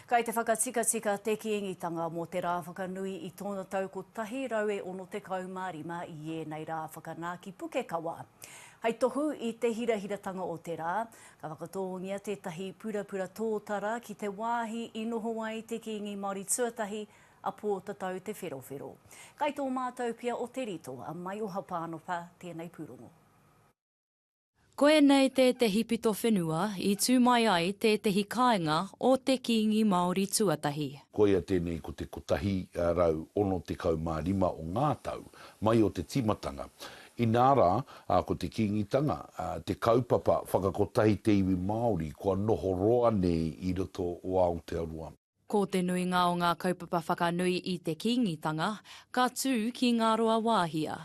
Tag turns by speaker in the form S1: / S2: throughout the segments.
S1: Kai te whakatikatika te Kīngitanga mō te rā whakanui i tōna tau 165 i ēnei rā whakanā ki Pukekawa. Hai tohu i te hirahiratanga o te rā, ka whakatōngia tētahi purapura tōtara ki te wāhi i noho ai te Kīngi Māori tuatahi a Pōtatau Te Wherowhero. Kai tō mātou pia o Te Rito, a Maioha Pānopa, tēnei pūrongo.
S2: Koinei tētehi pito whenua i tū mai ai tētehi kāinga o te Kīngi Māori tuatahi. Koia tēnei ko
S3: te 165 o ngā tau mai o te tīmatanga. Inā rā, ko te Kīngitanga te kaupapa whakakotahi te iwi Māori kua noho roa nei i roto o Aotearoa. Ko te nuinga
S2: o ngā kaupapa whakanui i te Kīngitanga, ka tū ki Ngāruawāhia.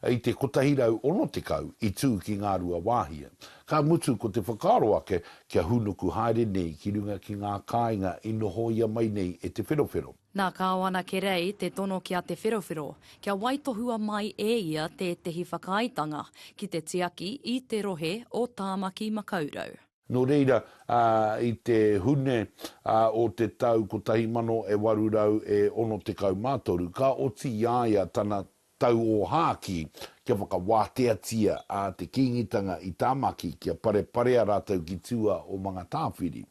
S2: I te
S3: 160 i tū ki Ngāruawāhia, ka mutu ko te whakaaro ake kia hūnuku haere nei ki runga ki ngā kāinga i nohoia mai nei e Te Wherowhero. Nā Kāwana
S2: Kerei te tono ki a Te Wherowhero kia waitohua mai e ia tētehi whakaaetanga ki te tiaki i te rohe o Tāmaki-makau-rau. Nō reira,
S3: ā, i te Hune, ā, o te tau kotahi mano e waru rau e ono tekau mā toru, ka oti i a ia tana tauōhākī kia whakawāteatia a te Kīngitanga i Tāmaki kia pareparea rātou ki tua o Mangatāwhiri.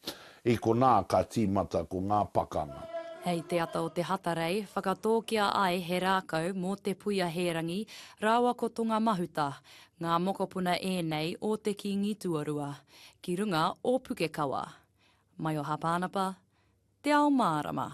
S3: I konā ka tīmata ko ngā pakanga. Hei te ata
S2: o te Hatarei, whakatōkia ai he rākau mō te puia hērangi rāua ko Tonga Mahuta. Ngā mokopuna ēnei o te Kīngi tuarua, ki runga o Pukekawa. Mai o Hāpānapa, Te Ao Mārama.